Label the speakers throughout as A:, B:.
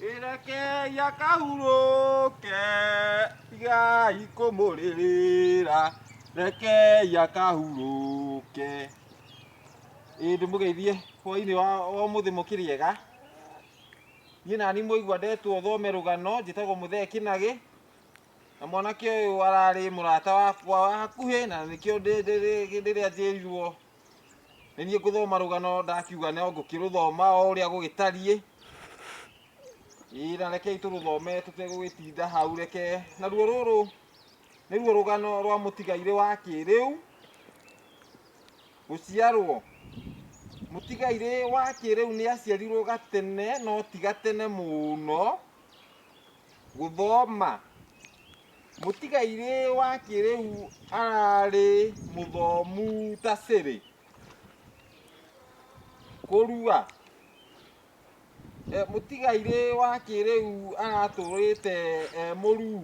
A: Ireke ya kahurũke tigai kũmũrĩrĩra reke ya kahurũke ĩĩ ndĩmũgeithie hwainĩ wa ũmũthĩ mũkĩrĩega niĩ nani mũigua ndetwo thome rũgano njĩtagwo mũthee kĩnagĩ na mwanake ũyũ ararĩ mũrata wakwa wa hakuhĩ na nĩkĩo ndĩrĩa njĩrirwo nĩ niĩ ngũthoma rũgano ndakiuga no ngũkĩrũthoma o ũrĩa gũgĩtariĩ ĩĩ na rekei tũrũthome tũtegũgĩtinda hau reke naruo rũrũ nĩruo rũgano rwa mũtigairĩ wa kĩrĩu gũciarwo mũtigairĩ wa kĩrĩu nĩ aciarirwo gatene no ti gatene mũno Gũthoma. Mũtigairĩ wa kĩrĩu ararĩ mũthomu ta Siri. Kũrua. E, mũtigairĩ wa kĩrĩu aratũrĩte e mũruu.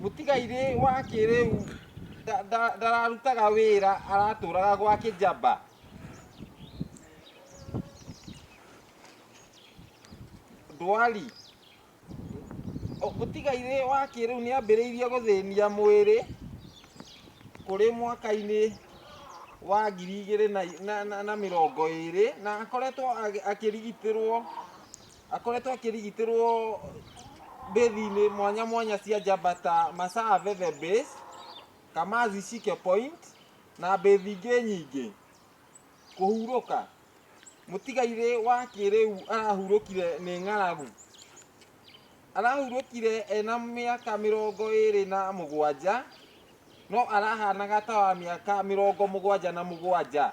A: mũtigairĩ wa kĩrĩu nda- nda- ndararutaga wĩra aratũraga gwa kĩjamba ndwari O- mũtigairĩ wa kĩrĩu nĩ ambĩrĩirie gũthĩnia mwĩrĩ kũrĩ mwaka-inĩ wa ngiri igĩrĩ na- na- na- na mĩrongo ĩrĩ na akoretwo agĩ- akĩrigitĩrwo akoretwo akĩrigitĩrwo mbĩthi-inĩ mwanya mwanya cia njamba ta Masaa Veve Base, Kamazi Shike Point na mbĩthi ingĩ nyingĩ. Kũhurũka. Mũtigairĩ wa kĩrĩu arahurũkire nĩ ng'aragu. Arahurũkire ena mĩaka mĩrongo ĩrĩ na mũgwanja no arahanaga ta wa mĩaka mĩrongo mũgwanja na mũgwanja.